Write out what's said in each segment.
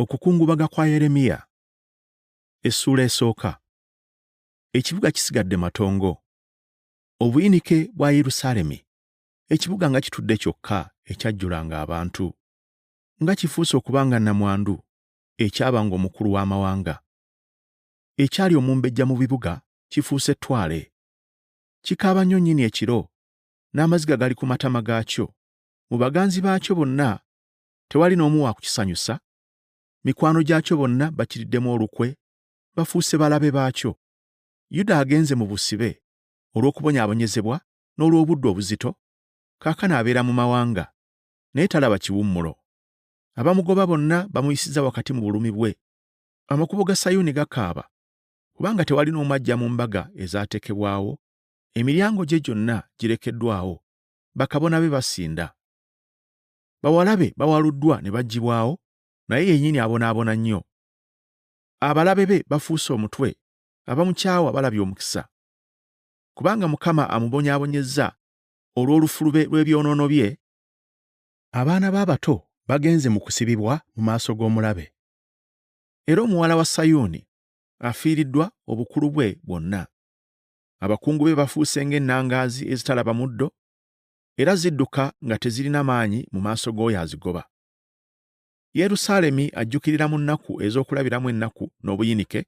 okukungubaga kwa yeremiya essuula esooka ekibuga kisigadde matongo obuyinike bwa yerusaalemi ekibuga nga kitudde kyokka ekyajjulanga abantu nga kifuuse okuba nga nnamwandu ekyabanga omukulu w'amawanga ekyali omumbejja mu bibuga kifuuse ettwale kikaaba nnyo nnyini ekiro n'amaziga gali ku matama gaakyo mu baganzi baakyo bonna tewali n'omu wa kukisanyusa mikwano gyakyo bonna bakiriddemu olukwe bafuuse balabe baakyo yuda agenze mu busibe olw'okubonyaabonyezebwa n'olw'obudde obuzito kaakano abeera mu mawanga naye talaba kiwummulo abamugoba bonna bamuyisiza wakati mu bulumi bwe amakubo ga sayuuni gakaaba kubanga tewali n'omu ajja mu mbaga ezaatekebwawo emiryango gye gyonna girekeddwawo bakabona be basinda. Bawala be bawaluddwa ne baggibwawo, naye yennyini abonaabona nnyo. Abalabe be bafuuse omutwe, abamukyawa balabye omukisa. Kubanga Mukama amubonyaabonyezza olw'olufulube lw'ebyonoono bye. Abaana be abato bagenze mu kusibibwa mu maaso g'omulabe. Era omuwala wa Sayuuni afiiriddwa obukulu bwe bwonna. abakungu be bafuuse ng'ennangaazi ezitalaba muddo, era zidduka nga tezirina maanyi mu maaso g'oyo azigoba. Yerusaalemi ajjukirira mu nnaku ez'okulabiramu ennaku n'obuyinike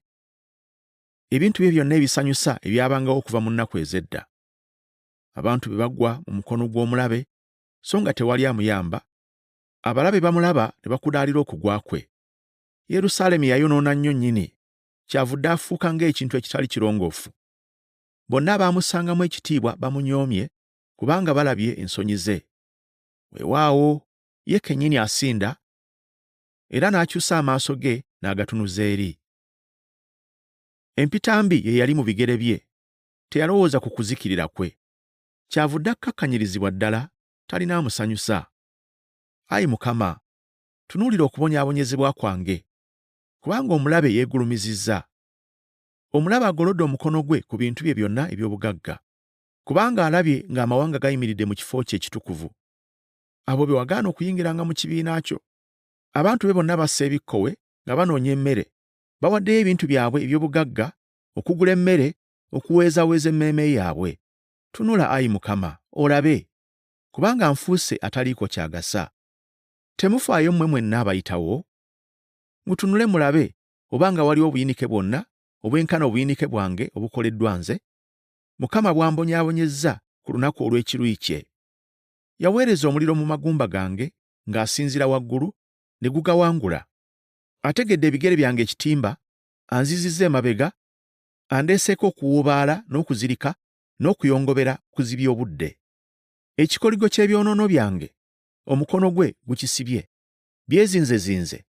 ebintu bye byonna ebisanyusa ebyabangawo okuva mu nnaku ez'edda. Abantu be bagwa mu mukono gw'omulabe so nga tewali amuyamba, abalabe bamulaba ne bakudaalira okugwa kwe. Yerusaalemi yayonoona nnyo nnyini kyavudde afuuka ng'ekintu ekitali kirongoofu. Bonna abaamusangamu ekitiibwa bamunyoomye kubanga balabye ensonyi ze. Weewaawo, ye kennyini asinda era n'akyusa amaaso ge n'agatunuza eri. Empitambi ye yali mu bigere bye, teyalowooza ku kuzikirira kwe. Kyavudde akkakkanyirizibwa ddala talina amusanyusa. Ayi Mukama, tunuulira okubonyaabonyezebwa kwange, kubanga omulabe yeegulumizizza. Omulabe agolodde omukono gwe ku bintu bye byonna eby'obugagga, kubanga alabye ng'amawanga gayimiridde mu kifo kye ekitukuvu. Abo be wagaana okuyingiranga mu kibiina kyo, abantu be bonna bassa ebikkowe nga banoonya emmere, bawaddeyo ebintu byabwe eby'obugagga okugula emmere okuweezaweeza emmeeme yaabwe. Tunula, ayi Mukama, olabe, kubanga nfuuse ataliiko ky'agasa. Temufaayo mmwe mwenna abayitawo? Mutunule mulabe oba nga waliwo obuyinike bwonna obwenkana obuyinike bwange obukoleddwa nze, Mukama bw'ambonyaabonyezza ku lunaku olw'ekiruyi kye. Yaweereza omuliro mu magumba gange ng'asinziira waggulu, ne gugawangula. Ategedde ebigere byange ekitimba, anzizizza emabega, andeeseeko okuwuubaala n'okuzirika n'okuyongobera kuzibya obudde. Ekikoligo ky'ebyonoono byange omukono gwe gukisibye, byezinzezinze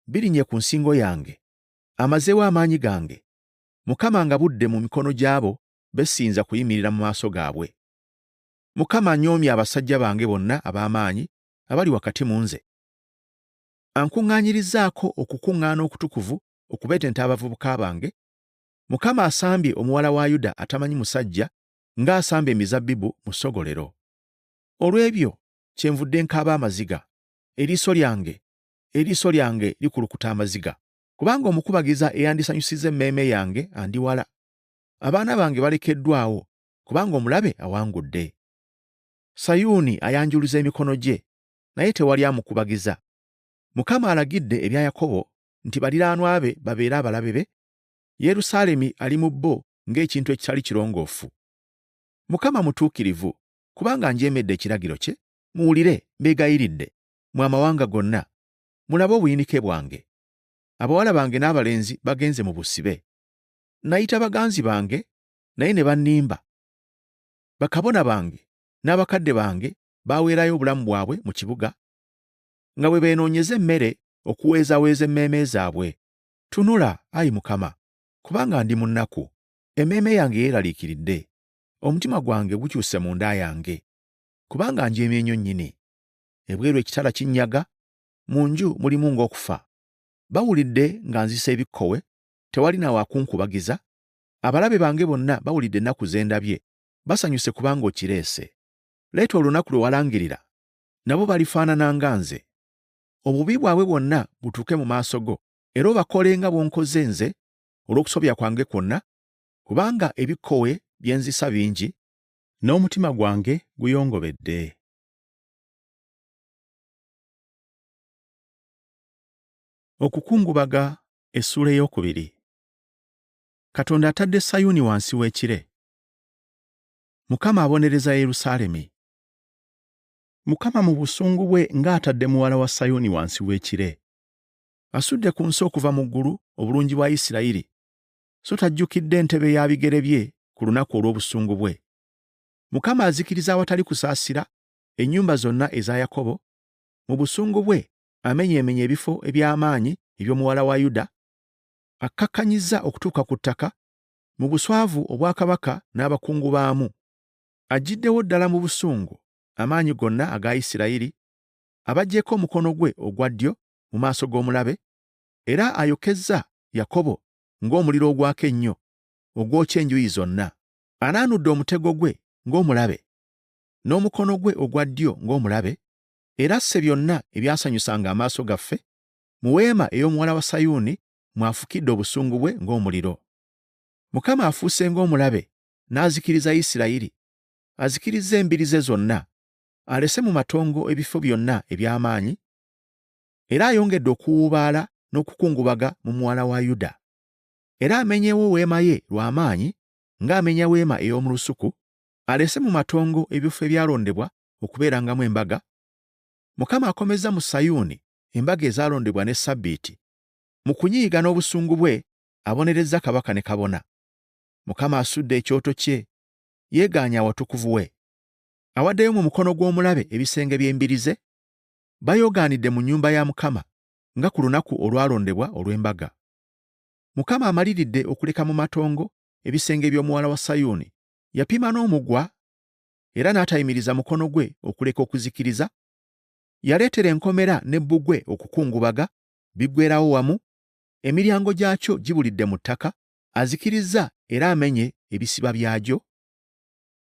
birinye ku nsingo yange amazeewo amaanyi gange mukama nga budde mu mikono gy'abo besinza kuyimirira mu maaso gaabwe mukama anyoomye abasajja bange bonna ab'amaanyi abali wakati mu nze ankuŋŋaanyirizaako okukuŋŋaana okutukuvu okubetenta abavubuka bange mukama asambye omuwala wa yuda atamanyi musajja ng'asamba emizabbibu mu ssogolero olw'ebyo kyenvudde nkaaba amaziga eriiso lyange eriiso lyange likulukuta amaziga kubanga omukubagiza eyandisanyusizza emmeeme yange andiwala abaana bange balekeddwawo kubanga omulabe awangudde sayuuni ayanjuluza emikono gye naye tewali amukubagiza mukama alagidde ebya yakobo nti baliraanwa be babeere abalabe be yerusaalemi ali mu bo ng'ekintu ekitali kirongoofu mukama mutuukirivu kubanga njeemedde ekiragiro kye muwulire, mbeegayiridde, mwe amawanga gonna, mulabe obuyinike bwange. Abawala bange n'abalenzi bagenze mu busibe. Nayita baganzi bange, naye ne bannimba. Bakabona bange n'abakadde bange baaweerayo obulamu bwabwe mu kibuga, nga bwe beenoonyeza emmere okuweezaweeza emmeeme zaabwe. Tunula, ayi Mukama, kubanga ndi mu nnaku, emmeeme yange yeeraliikiridde, omutima gwange gukyuse munda yange. kubanga njeemye nnyo nnyini. Ebweru ekitala kinnyaga, mu nju mulimu ng'okufa. Bawulidde nga nzisa ebikkowe, tewali na wa kunkubagiza. Abalabe bange bonna bawulidde ennaku ze ndabye, basanyuse kubanga okireese. Leeta olunaku lwe walangirira, nabo balifaanana nga nze. Obubi bwabwe bwonna butuuke mu maaso go, era obakole nga bw'onkoze nze olw'okusobya kwange kwonna, kubanga ebikkowe bye nzisa bingi, n'omutima gwange guyongobedde. Okukungubaga essuula ey'okubiri. Katonda atadde Sayuuni wansi w'ekire. Mukama abonereza Yerusaalemi. Mukama mu busungu bwe ng'atadde muwala wa Sayuuni wansi w'ekire. Asudde ku nsi okuva mu ggulu obulungi bwa Isirayiri, so tajjukidde entebe ya bigere bye ku lunaku olw'obusungu bwe. Mukama azikiriza awatali kusaasira ennyumba zonna eza Yakobo, mu busungu bwe amenyeemenya ebifo eby'amaanyi eby'omuwala wa Yuda, akkakkanyizza okutuuka ku ttaka mu buswavu obwakabaka n'abakungu baamu. Aggyiddewo ddala mu busungu amaanyi gonna aga Isirayiri, abagyeko omukono gwe ogwa ddyo mu maaso g'omulabe, era ayokezza Yakobo ng'omuliro ogwaka ennyo ogwokya enjuyi zonna. Anaanudde omutego gwe ng'omulabe, n'omukono gwe ogwa ddyo ng'omulabe, era asse byonna ebyasanyusanga amaaso gaffe, mu weema ey'omuwala wa Sayuuni mw'afukidde obusungu bwe ng'omuliro. Mukama afuuse ng'omulabe n'azikiriza Isirayiri, azikirizza embiri ze zonna, alese mu matongo ebifo byonna eby'amaanyi, era ayongedde okuwuubaala n'okukungubaga mu muwala wa Yuda. Era amenyewo weema ye lwa maanyi ng'amenya weema ey'omu lusuku, alese mu matongo ebifo ebyalondebwa okubeerangamu embaga. Mukama akomezza mu Sayuuni embaga ezaalondebwa ne Ssabbiiti. Mu kunyiiga n'obusungu bwe abonerezza kabaka ne kabona. Mukama asudde ekyoto kye, yeegaanye awatukuvu we. Awaddeyo mu mukono gw'omulabe ebisenge by'embiri ze, bayogaanidde mu nnyumba ya Mukama nga ku lunaku olwalondebwa olw'embaga. Mukama amaliridde okuleka mu matongo ebisenge by'omuwala wa Sayuuni, yapima n'omugwa era n'atayimiriza mukono gwe okuleka okuzikiriza, yaleetera enkomera ne bbugwe okukungubaga biggwerawo wamu, emiryango gyakyo gibulidde mu ttaka, azikirizza era amenye ebisiba byagyo.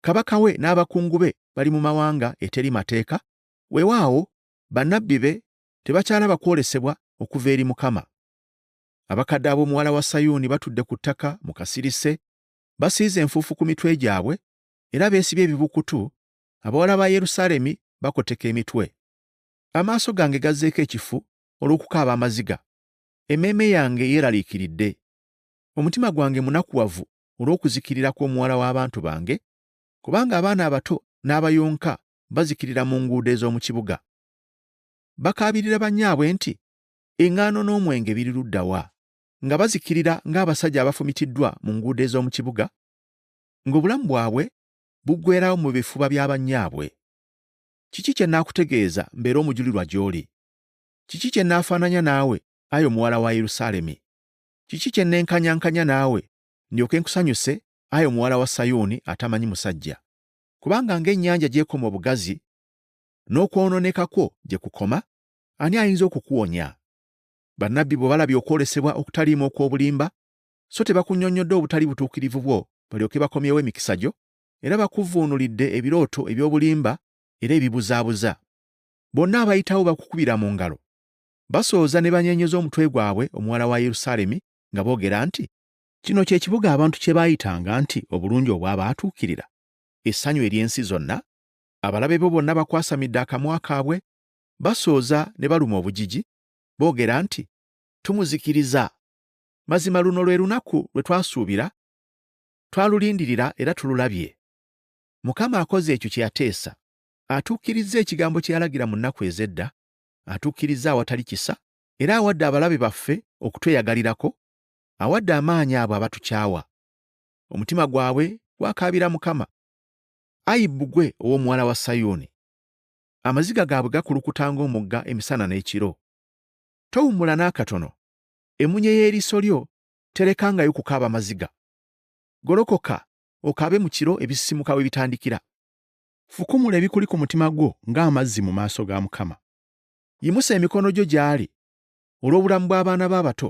Kabaka we n'abakungu be bali mu mawanga eteri mateeka, Weewaawo, bannabbi be tebakyalaba kwolesebwa okuva eri Mukama. Abakadde ab'omuwala wa Sayuuni batudde ku ttaka mu kasirise, basiize enfuufu ku mitwe gyabwe, era beesibye ebibukutu, abawala ba Yerusaalemi bakoteka emitwe. Amaaso gange gazzeeko ekifu olw'okukaaba amaziga, emmeeme yange yeeraliikiridde. Omutima gwange munakuwavu olw'okuzikirira kw'omuwala w'abantu bange, kubanga abaana abato n'abayonka bazikirira mu nguudo ez'omu kibuga bakaabirira bannyaabwe nti eŋŋaano n'omwenge biri ludda wa nga bazikirira ng'abasajja abafumitiddwa mu nguudo ez'omu kibuga ng'obulamu bwabwe buggwerawo mu bifuba bya bannyaabwe kiki kye naakutegeeza mbeera omujulirwa gy'oli kiki kye naafaananya naawe ayi omuwala wa yerusaalemi kiki kye nenkanyankanya naawe ndyoke nkusanyuse ayi omuwala wa sayuuni atamanyi musajja kubanga ng'ennyanja gy'ekoma obugazi, n'okwonooneka kwo gye kukoma, ani ayinza okukuwonya? Bannabbi bwe balabye okwolesebwa okutaliimu okw'obulimba, so tebakunnyonnyodde obutali butuukirivu bwo balyoke bakomyewo emikisa gyo, era bakuvvuunulidde ebirooto eby'obulimba era ebibuzaabuza. Bonna abayitawo bakukubira mu ngalo, basooza ne banyeenyeza omutwe gwabwe omuwala wa Yerusaalemi nga boogera nti, Kino kye kibuga abantu kye baayitanga nti obulungi obw'abaatuukirira, essanyu ery'ensi zonna, abalabe bo bonna bakwasamidde akamwa kaabwe, basooza ne baluma obujiji, boogera nti, Tumuzikiriza! Mazima luno lwe lunaku lwe twasuubira, twalulindirira era tululabye. Mukama akoze ekyo kye yateesa, atuukirizza ekigambo kye yalagira mu nnaku ez'edda, atuukirizza awatali kisa, era awadde abalabe baffe okutweyagalirako, awadde amaanyi abo abatukyawa. Omutima gwabwe gwakaabira Mukama. Ayi bbugwe ow'omuwala wa Sayuuni, amaziga gaabwe gakulukuta ng'omugga emisana n'ekiro. Towummula n'akatono, emunye y'eriiso lyo terekangayo kukaaba maziga. Golokoka okaabe mu kiro ebisisimuka we bitandikira. Fukumula ebikuli ku mutima gwo ng'amazzi mu maaso ga Mukama. Yimusa emikono gyo gy'ali olw'obulamu bw'abaana bo abato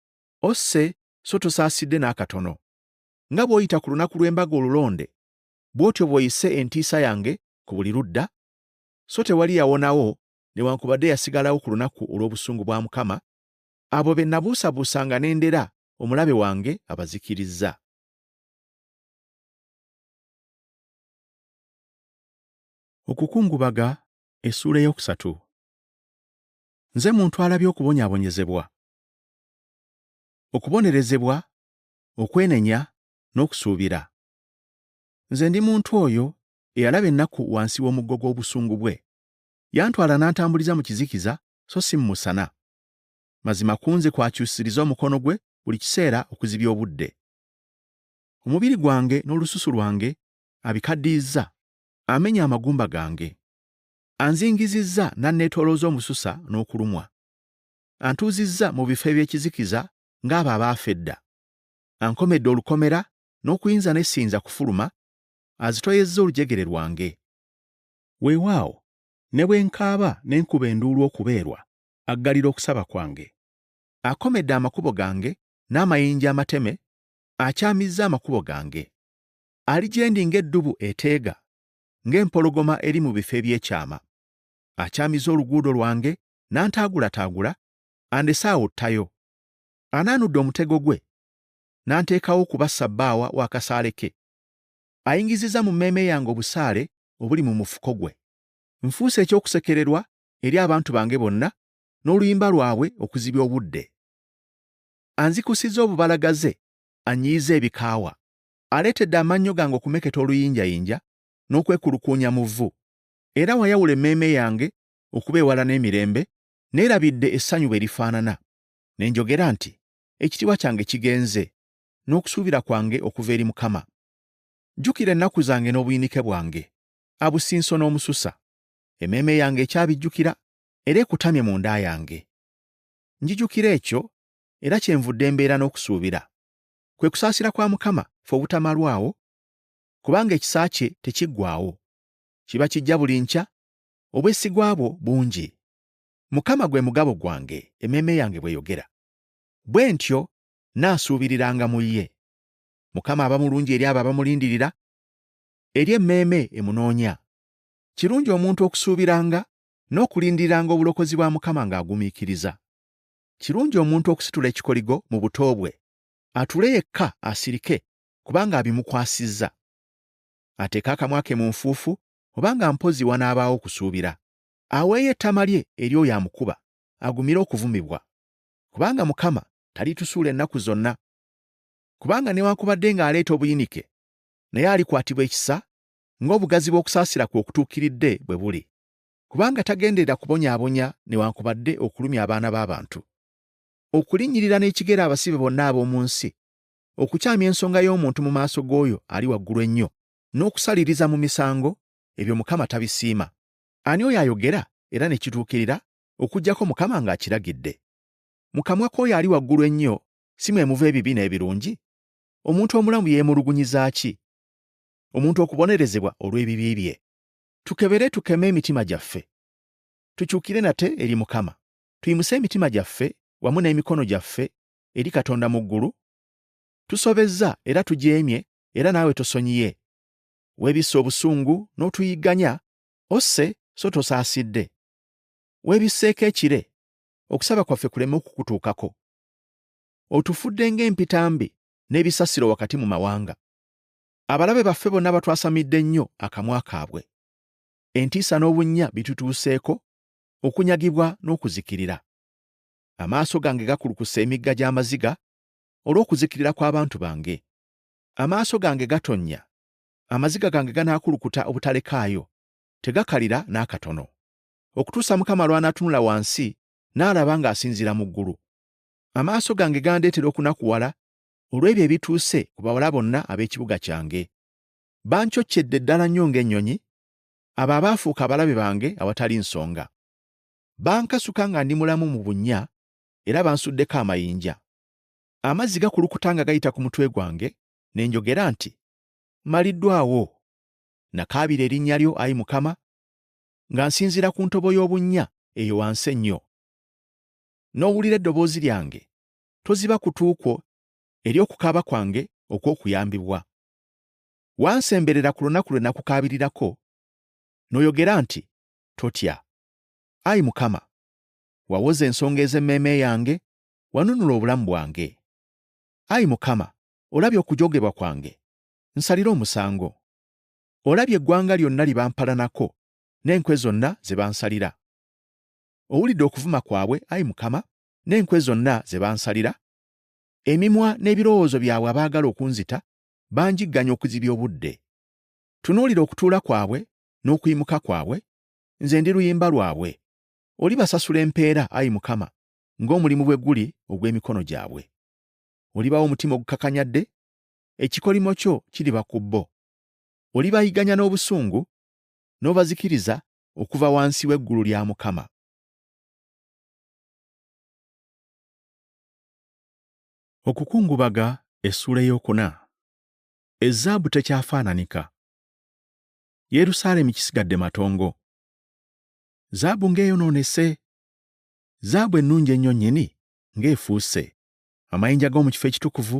Osse so tosaasidde n'akatono. Nga bw'oyita ku lunaku lw'embaga olulonde, bw'otyo bw'oyise entiisa yange ku buli ludda, so tewali yawonawo newankubadde yasigalawo ku lunaku olw'obusungu bwa Mukama, abo be nabuusabuusanga ne ndera omulabe wange abazikirizza. Okukungubaga, Essuula ey'okusatu. Nze muntu alabye okubonyaabonyezebwa okubonerezebwa okwenenya n'okusuubira nze ndi muntu oyo eyalaba ennaku wansi w'omuggo gw'obusungu bwe yantwala n'antambuliza mu kizikiza so si mu musana mazima kunze kwakyusiriza omukono gwe buli kiseera okuzibya obudde omubiri gwange n'olususu lwange abikaddiyizza amenya amagumba gange anzingizizza n'anneetoolooza omususa n'okulumwa antuuzizza mu bifo eby'ekizikiza ng'abo abaafa edda. Ankomedde olukomera n'okuyinza ne siyinza kufuluma, azitoyezza olujegere lwange. Weewaawo, ne bwe nkaaba ne nkuba enduulu okubeerwa, aggalira okusaba kwange. Akomedde amakubo gange n'amayinja amateme, akyamizza amakubo gange. Ali gye ndi ng'eddubu eteega, ng'empologoma eri mu bifo eby'ekyama. Akyamiza oluguudo lwange n'antaagulataagula andese awo ttayo anaanudde omutego gwe n'anteekawo okuba ssabbaawa w'akasaale ke ayingizizza mu mmeeme yange obusaale obuli mu mufuko gwe nfuuse eky'okusekererwa eri abantu bange bonna n'oluyimba lwabwe okuzibya obudde anzikusizza obubalagaze anyiyiza ebikaawa aleetedde amannyo gange okumeketa oluyinjayinja n'okwekulukuunya mu vvu era wayawula emmeeme yange okuba ewala n'emirembe, neerabidde essanyu bwe lifaanana, ne njogera nti, Ekitiibwa kyange kigenze, n'okusuubira kwange okuva eri Mukama. Jjukira ennaku zange n'obuyinike bwange, abusinso n'omususa. Emmeeme yange ekyabijjukira era ekutamye mu nda yange. Njijukira ekyo, era kyenvudde mbeera n'okusuubira. Kwe kusaasira kwa Mukama fe obutamalwawo, kubanga ekisa kye tekiggwaawo. Kiba kijja buli nkya, obwesigwa bwo bungi. Mukama gwe mugabo gwange, emmeeme yange bw'eyogera. Bwe ntyo nnaasuubiriranga mu ye. Mukama aba mulungi eri abo abamulindirira, eri emmeeme emunoonya. Kirungi omuntu okusuubiranga n'okulindiriranga obulokozi bwa Mukama ng'agumiikiriza. Kirungi omuntu okusitula ekikoligo mu buto bwe, atuule yekka asirike kubanga abimukwasizza. Ateeke akamwa ke mu nfuufu oba nga mpozzi wanaabaawo okusuubira, aweeyo ettama lye eri oyo amukuba, agumire okuvumibwa. Kubanga Mukama talitusuula ennaku zonna. Kubanga newankubadde ng'aleeta obuyinike, naye alikwatibwa ekisa ng'obugazi bw'okusaasira kwe okutuukiridde bwe buli. Kubanga tagenderera kubonyaabonya newankubadde okulumya abaana b'abantu. Okulinnyirira n'ekigere abasibe bonna ab'omu nsi, okukyamya ensonga y'omuntu mu maaso g'oyo ali waggulu ennyo, n'okusaliriza mu misango ebyo Mukama tabisiima. Ani oyo ayogera era ne kituukirira okuggyako Mukama ng'akiragidde? Mu kamwa k'oyo ali waggulu ennyo si mwe muva ebibi n'ebirungi? Omuntu omulamu yeemulugunyiza ki? Omuntu okubonerezebwa olw'ebibi bye. Tukebere tukeme emitima gyaffe. Tukyukire nate eri Mukama. Tuyimuse emitima gyaffe wamu n'emikono gyaffe eri Katonda mu ggulu. Tusobezza era tujeemye era naawe tosonyiye weebisse obusungu n'otuyigganya osse so tosaasidde weebisseeko ekire okusaba kwaffe kuleme okukutuukako otufudde ng'empitambi n'ebisasiro wakati mu mawanga abalabe baffe bonna batwasamidde nnyo akamwa kaabwe entiisa n'obunnya bitutuuseeko okunyagibwa n'okuzikirira amaaso gange gakulukuse emigga gy'amaziga olw'okuzikirira kw'abantu bange Amaaso gange gatonnya, amaziga gange ganaakulukuta obutalekaayo, tegakalira n'akatono, okutuusa Mukama lw'anaatunula wansi n'alaba ng'asinziira mu ggulu. Amaaso gange gandeetera okunakuwala olw'ebyo ebituuse ku bawala bonna ab'ekibuga kyange. Bancoccedde ddala nnyo ng'ennyonyi, abo abaafuuka abalabe bange awatali nsonga. Bankasuka nga ndi mulamu mu bunnya, era bansuddeko amayinja. Amazzi gakulukuta nga gayita ku mutwe gwange, ne njogera nti, Mmaliddwawo. Nakaabira erinnya lyo, ayi Mukama, nga nsinziira ku ntobo y'obunnya eyo wansi ennyo. N'owulira eddoboozi lyange, toziba kutu kwo eri okukaaba kwange okw'okuyambibwa. Wansemberera ku lunaku lwe nakukaabirirako, n'oyogera nti, Totya. Ayi Mukama, wawoza ensonga ez'emmeeme yange wanunula obulamu bwange. Ayi Mukama, olabye okujogebwa kwange, nsalira omusango. Olabye eggwanga lyonna lye bampalanako n'enkwe zonna ze bansalira. Owulidde okuvuma kwabwe, ayi Mukama, n'enkwe zonna ze bansalira? Emimwa n'ebirowoozo byabwe abaagala okunzita banjigganya okuzibya obudde. Tunuulira okutuula kwabwe n'okuyimuka kwabwe, nze ndi luyimba lwabwe. Olibasasula empeera, ayi Mukama, ng'omulimu bwe guli ogw'emikono gyabwe. Olibawa omutima ogukakanyadde, ekikolimo kyo kiriba ku bo. Olibayiganya n'obusungu, n'obazikiriza okuva wansi w'eggulu lya Mukama. Okukungubaga essuula ey'okuna ezzaabu tekyafaananika yerusaalemi kisigadde matongo zaabu ng'eyonoonese zaabu ennungi ennyo nnyini ng'efuuse, amayinja g'omu kifo ekitukuvu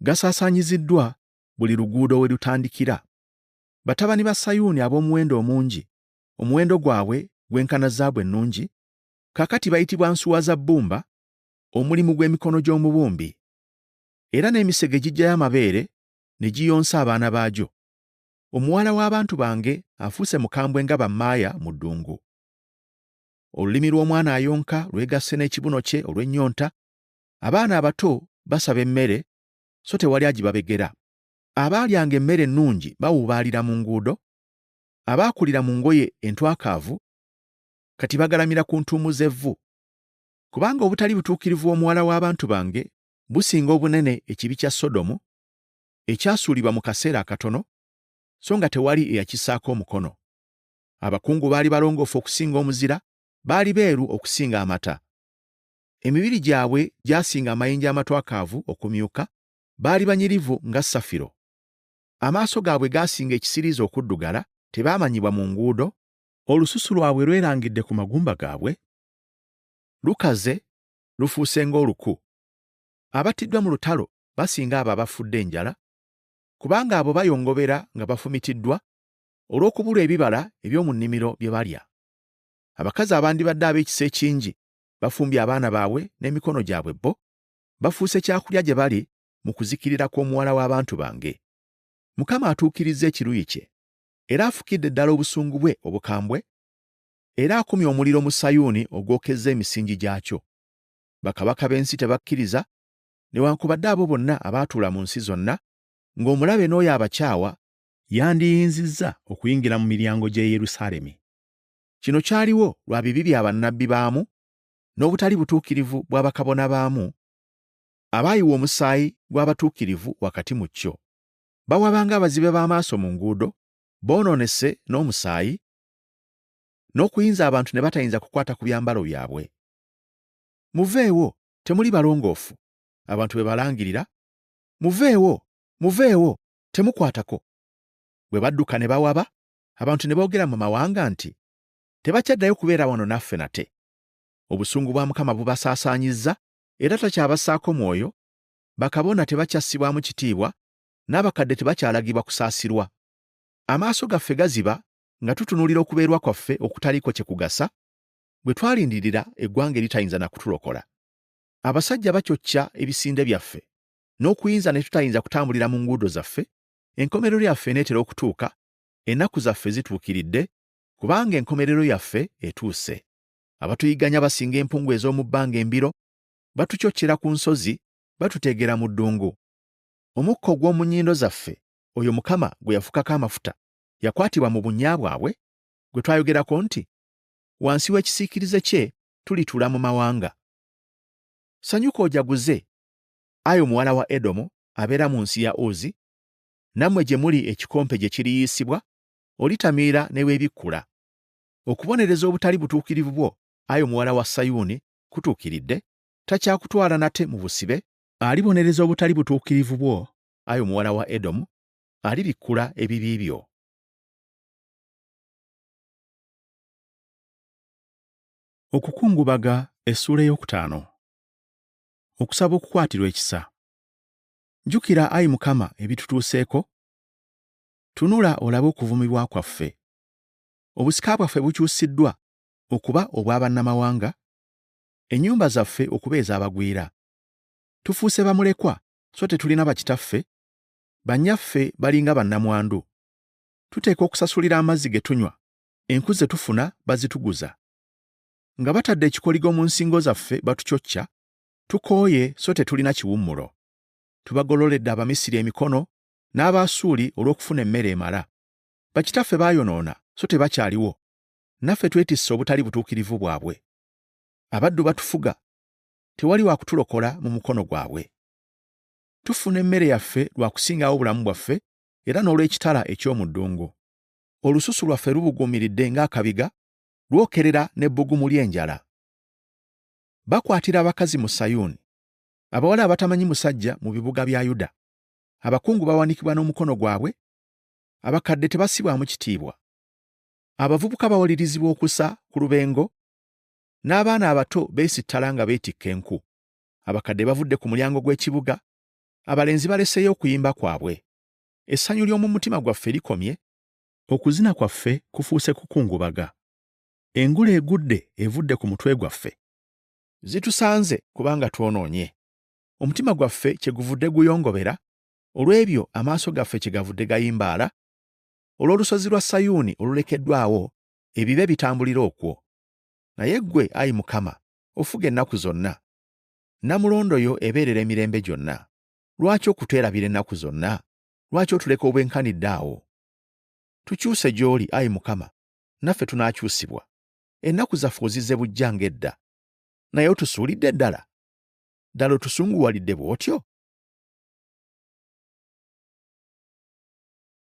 gasaasaanyiziddwa buli luguudo we lutandikira. Batabani ba Sayuuni ab'omuwendo omungi, omuwendo gwabwe gwenkana zaabu ennungi, kaakati bayitibwa nsuwa za bbumba, omulimu gw'emikono gy'omubumbi. Era n'emisege giggyayo amabeere ne giyonsa abaana baagyo. Omuwala w'abantu bange afuuse mukambwe nga bammaaya mu ddungu. olulimi lw'omwana ayonka lwegasse n'ekibuno kye olw'ennyonta abaana abato basaba emmere so tewali agibabegera abaalyanga emmere ennungi bawuubaalira mu nguudo abaakulira mu ngoye entwakaavu kati bagalamira ku ntuumu z'evvu kubanga obutali butuukirivu omuwala w'abantu bange businga obunene ekibi kya sodomu ekyasuulibwa mu kaseera akatono so nga tewali eyakisaako omukono Abakungu baali balongoofu okusinga omuzira, baali beeru okusinga amata. Emibiri gyabwe gyasinga amayinja amatwakaavu okumyuka, baali banyirivu nga safiro. Amaaso gaabwe gaasinga ekisiriiza okuddugala, tebaamanyibwa mu nguudo. Olususu lwabwe lwerangidde ku magumba gaabwe, lukaze, lufuuse ng'oluku. Abattiddwa mu lutalo basinga abo abafudde enjala, kubanga abo bayongobera nga bafumitiddwa olw'okubulwa ebibala eby'omu nnimiro bye balya. Abakazi abandibadde ab'ekisa ekingi bafumbye abaana baabwe n'emikono gyabwe bo, bafuuse kyakulya gye bali mu kuzikirira kw'omuwala w'abantu bange. Mukama atuukirizza ekiruyi kye, era afukidde ddala obusungu bwe obukambwe, era akumye omuliro mu Sayuuni ogwokezza emisingi gyakyo. Bakabaka b'ensi tebakkiriza, newankubadde abo bonna abaatuula mu nsi zonna, ng'omulabe n'oyo abakyawa yandiyinzizza okuyingira mu miryango gy'e Yerusaalemi. Kino kyaliwo lwa bibi bya bannabbi baamu n'obutali butuukirivu bwa bakabona baamu abaayiwa omusaayi gw'abatuukirivu wakati mu kyo. Bawabanga abazibe b'amaaso mu nguudo, boonoonese n'omusaayi, n'okuyinza abantu ne batayinza kukwata ku byambalo byabwe. Muveewo, temuli balongoofu, abantu be balangirira. Muveewo, muveewo, temukwatako bwe badduka ne bawaba abantu ne boogera mu mawanga nti tebakyaddayo kubeera wano naffe nate obusungu bwa mukama bubasaasaanyizza era takyabassaako mwoyo bakabona tebakyassibwamu kitiibwa n'abakadde tebakyalagibwa kusaasirwa amaaso gaffe gaziba nga tutunuulira okubeerwa kwaffe okutaliiko kye kugasa bwe twalindirira eggwanga eritayinza na kutulokola abasajja bakyokya ebisinde byaffe n'okuyinza ne tutayinza kutambulira mu nguudo zaffe, enkomerero yaffe eneetera okutuuka, ennaku zaffe zituukiridde, kubanga enkomerero yaffe etuuse. Abatuyigganya basinga empungu ez'omu bbanga embiro, batucocera ku nsozi, batuteegera mu ddungu. Omukka ogw'omu nnyindo zaffe, oyo Mukama gwe yafukako amafuta, yakwatibwa mu bunnya bwabwe, gwe twayogerako nti, Wansi w'ekisiikirize kye tulituula mu mawanga. Sanyuka ojaguze, Ayo muwala wa Edomu abeera mu nsi ya Uzi, nammwe gye muli ekikompe gye kiriyiisibwa, olitamiira ne weebikkula. Okubonereza obutali butuukirivu bwo, ayo muwala wa Sayuuni, kutuukiridde, takyakutwala nate mu busibe. Alibonereza obutali butuukirivu bwo, ayo muwala wa Edomu, alibikkula ebibi byo. Okukungubaga essuula ey'okutaano. okusaba okukwatirwa ekisa. Jjukira, ayi Mukama, ebitutuuseeko. Tunula olabe okuvumibwa kwaffe. Obusika bwaffe bukyusiddwa okuba obw'abannamawanga, ennyumba zaffe okuba ez'abagwira. Tufuuse bamulekwa, so tetulina bakitaffe, bannyaffe balinga bannamwandu. Tuteekwa okusasulira amazzi ge tunywa, enku ze tufuna bazituguza. nga batadde ekikoligo mu nsingo zaffe batucocca, tukooye so tetulina kiwummulo. Tubagololedde Abamisiri emikono n'Abaasuuli olw'okufuna emmere emala. Bakitaffe baayonoona so tebakyaliwo, naffe twetisse obutali butuukirivu bwabwe. Abaddu batufuga, tewali wa kutulokola mu mukono gwabwe. Tufuna emmere yaffe lwa kusingawo obulamu bwaffe era n'olw'ekitala eky'omu ddungu. Olususu lwaffe lubuguumiridde ng'akabiga, lwokerera n'ebbugumu ly'enjala. Bakwatira abakazi mu Sayuuni, abawala abatamanyi musajja mu bibuga bya Yuda. Abakungu bawanikibwa n'omukono gwabwe, abakadde tebasibwamu kitiibwa. Abavubuka bawalirizibwa okusa ku lubengo, n'abaana abato beesittala nga beetikka enku. Abakadde bavudde ku mulyango gw'ekibuga, abalenzi baleseeyo okuyimba kwabwe. Essanyu ly'omu mutima gwaffe likomye, okuzina kwaffe kufuuse kukungubaga. Engule egudde evudde ku mutwe gwaffe. Zitusanze kubanga twonoonye. Omutima gwaffe kye guvudde guyongobera olw'ebyo amaaso gaffe kye gavudde gayimbaala, olw'olusozi lwa Sayuuni olulekeddwawo ebibe bitambulira okwo. Naye ggwe, ayi Mukama, ofuga ennaku zonna. Nnamulondo yo ebeerera emirembe gyonna. Lwaki okutwerabira ennaku zonna? Lwaki otuleka obwenkanidde awo? Tukyuse gy'oli, ayi Mukama, naffe tunaakyusibwa. Ennaku zaffe ozizze bujja ng'edda, naye otusuulidde ddala? Ddala otusunguwalidde bw'otyo?